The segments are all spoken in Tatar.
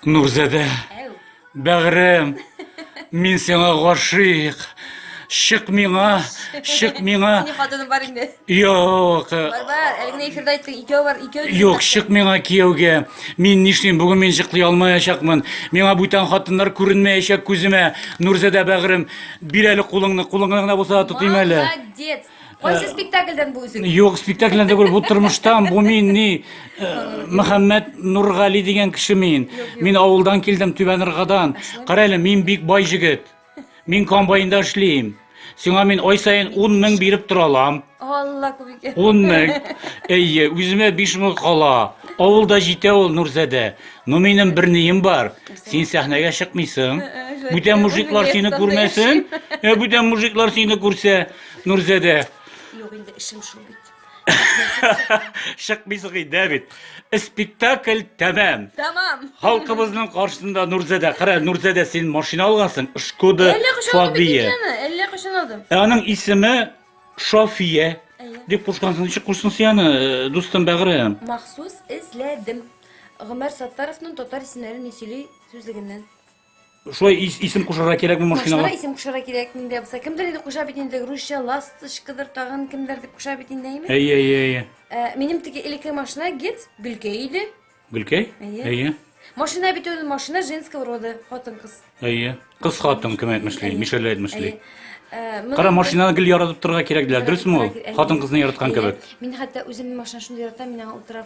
Нурзәдә, бәгырем, мин сиңа гашыйк. Чык миңа, чык миңа. Ни хатыным бар инде. Юк. Бар бар, әле генә эфирдә айттың, икәү бар, икәү. Юк, чык миңа кияүгә. Мин нишлим, бүген мин чыклый алмаячакмын. Миңа бүтән хатыннар күренмәячәк күземә. Нурзәдә бәгырем, бир әле кулыңны, кулыңны гына булса да тотыйм әле. Молодец. Кайсы спектакльдән бу үзең? Юк, спектакльдән түгел, бу тормыштан, бу мин ни э, Мөхәммәд Нургали дигән кеше мин. Мин авылдан килдем, Түбән Ргадан. Кара әле, мин бик бай җегет. Мин комбайнда эшлим. Сиңа мин ай саен 10 мең биреп тора алам. Алла күбеке. 10 мең. Әйе, үземә 5 мең кала. Авылда җитә ул Нурзәдә. Ну минем бер нием бар. Син сәхнәгә чыкмыйсың. Бүтән мужиклар сине күрмәсен. Ә бүтән мужиклар сине күрсә, Нурзәдә. Юк, инде эшем шул бит. Чыкмыйсың инде бит. Спектакль тәмам. Тәмам. Халкыбызның каршысында Нурзәдә. Кара, Нурзәдә син машина алгансың, Шкода Фабия. Әллә кышын алдым. Ә аның исеме Шофия. Дип кушкансың, ничек кушсың син аны, э, дустым бәгырем? Махсус эзләдем. Гомәр Саттаровның татар исемнәрен сөйли сүзлегеннән. Шулай ис, исем кушарга кирәкме машинага? Машинага исем кушарга кирәк инде. Булса кемдер инде куша бит инде русча ласточкадыр тагын кемдер дип куша бит инде әйме? Әйе, әйе, әйе. Ә, минем теге элекке машина гет гөлкәй иде. Гөлкәй? Әйе. Әйе. Машина бит ул машина женского рода, хатын кыз. Әйе. Кыз хатын кем әйтмешли, Мишель әйтмешли. Э, Кара машинаны гел яратып торырга кирәк диләр, дөресме ул? Хатын кызны яраткан кебек. Мин хәтта үземнең машина шундый яратам, мин аңа утырам.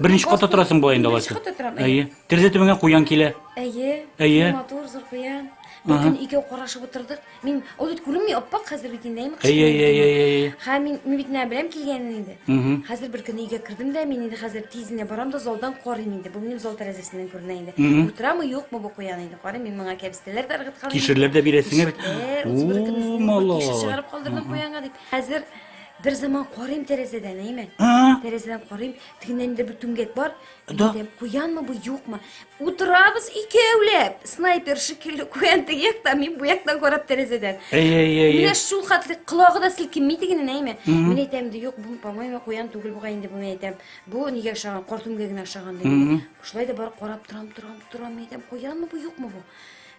Беренче катта торасың болай инде алайса. Беренче катта торам. Әйе. Терезе төбеңә куян килә. Әйе. Әйе. Матур, зур куян. Бер көн икәү карашып утырдык. Мин ул бит күренми, аппак хәзер бит инде. Әйе, әйе, әйе, әйе. Һәм мин мин бит нә беләм килгәнен инде. Хәзер бер көн өйгә кердем дә, мин инде хәзер тиз генә барам да залдан карыйм инде. Бу минем зал тәрәзәсеннән күренә инде. Утырамы, юкмы бу куян инде. Карыйм, мин моңа кәбестәләр дә ыргыткан. Кишерләр дә бирәсеңә бит. Ул малай. Кишер чыгарып калдырдым куянга дип. Хәзер Бер заман карыйм тәрәзәдән, әйме? Тәрәзәдән карыйм, тегеннән дә бер түмгәк бар. Да. Әйтәм, куянмы бу, юкмы? Утырабыз икәүләп. Снайпер шикелле куян теге яктан, мин бу яктан карап тәрәзәдән. Әй, әй, әй. Менә шул хәтле колагы да селкенми тегенен, әйме? Мин әйтәм инде, юк, бу, по-моему, куян түгел бугай инде бу, мин әйтәм. Бу нигә ошаган? Кар түмгәгенә ошаган диде. Шулай да бар карап торам, торам, торам, әйтәм, куянмы бу, юкмы бу?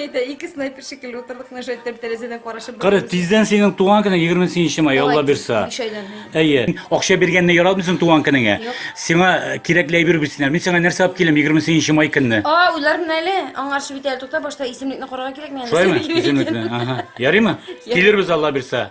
Әйтә, ике снайпер шикелле утырдык, нәшәт тәп тәрәзәдән карашып. Кара, тиздән синең туган көне 28 май, Алла бирса. Әйе. Акча биргәнне яратмыйсың туган көнеңә. Сиңа э, кирәкле әйбер бирсеннәр. Мин сиңа нәрсә алып киләм 28 май көнне? А, уйларым әле. Аңарчы бит әле тута, башта исемлекне карарга кирәк миңа. Шулаймы? Исемлекне. Ага. Ярыймы? Килербез Алла бирса.